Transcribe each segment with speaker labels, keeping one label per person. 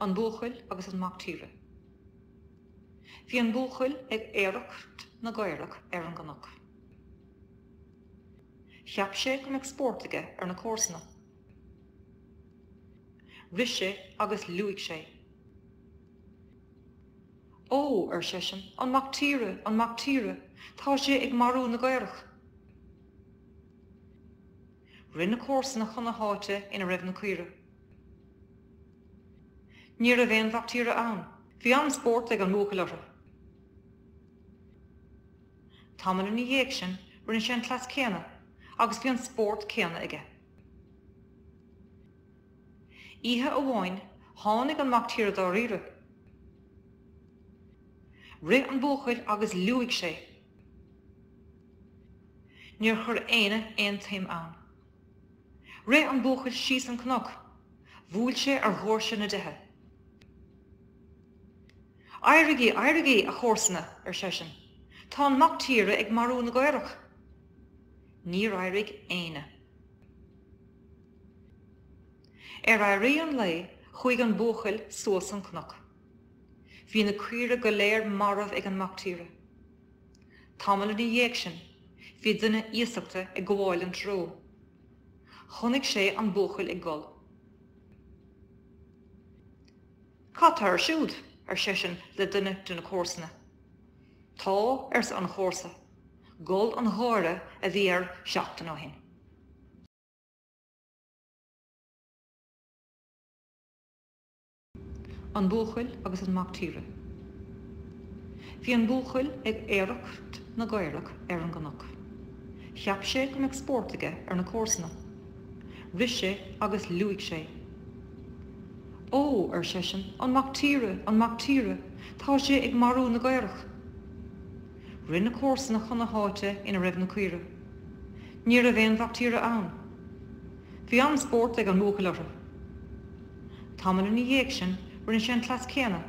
Speaker 1: An Buachaill agus an Mac Tíre Bhí an buachaill ag aoireacht na gcaorach ar an gcnoc. Cheap sé go mbeadh spórt aige ar na comharsana. Rith sé agus liúigh sé. Ó, ar seisean, an mac tíre, an mac tíre, tá sé ag marú na gcaorach. Rith na comharsana chun na háite ina raibh na caoirigh. Ní raibh aon mhac tíre ann. Bhí an-spórt ag an mbuachaill orthu. Tamall ina dhiaidh sin rinne sé an cleas céanna agus bhí an spórt céanna aige. Oíche amháin tháinig an mac tíre dáiríre. Rith an buachaill agus liúigh sé. Níor chuir aoinne aon tsuim ann. Rith an buachaill síos an cnoc. Bhuail sé ar dhóirse na dtithe. Éirigí, éirigí, a chomharsana, ar seisean, tá an mac tíre ag marú na gcaorach. Níor éirigh éinne. Ar éirí an lae chuaigh an buachaill suas an cnoc. Bhí na caoirigh go léir marbh ag an mac tíre. Tamall ina dhiaidh sin bhí duine iasachta ag gabháil an treo. Chonaic sé an buachaill ag gol. Cad tá air siúd? ar seisean le duine de na comharsana. Tá, arsa an chomharsa, gol an gháire a bhí air seachtain ó shin. An Buachaill agus an Mac Tíre Bhí an buachaill ag aoireacht na gcaorach ar an gcnoc. Cheap sé go mbeadh spórt aige ar na comharsana. Rith sé agus liúigh sé. Ó! ar seisean, an mac tíre, an mac tíre, tá sé ag marú na gcaorach. Rith na comharsana chun na háite ina raibh na caoirigh. Ní raibh aon mhac tíre ann. Bhí an-spórt ag an mbuachaill orthu. Tamall ina dhiaidh sin rinne sé an cleas céanna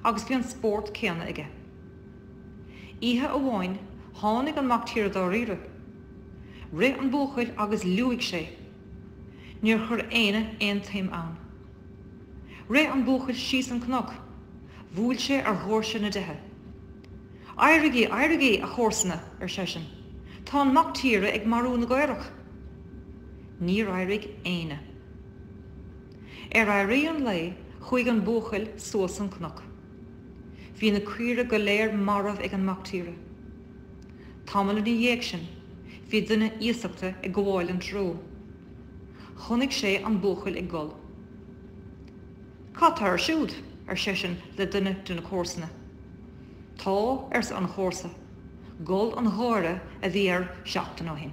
Speaker 1: agus bhí an spórt céanna aige. Oíche amháin tháinig an mac tíre dáiríre. Rith an buachaill agus liúigh sé. Níor chuir éinne aon tsuim ann. Rith an buachaill síos an cnoc. Bhuail sé ar dhóirse na dtithe. Éirigí, éirigí, a chomharsana, ar seisean, tá an mac tíre ag marú na gcaorach. Níor éirigh éinne. Ar éirí an lae, chuaigh an buachaill suas an cnoc. Bhí na caoire go léir marbh ag an mactíre. Tamall ina dhiaidh sin, bhí duine iasachta ag gabháil an treo. Chonaic sé an buachaill ag gol. Cad tá air siúd? ar seisean le duine de na comharsana. Tá, arsa an chomharsa, gol an gháire a bhí air seachtain ó shin.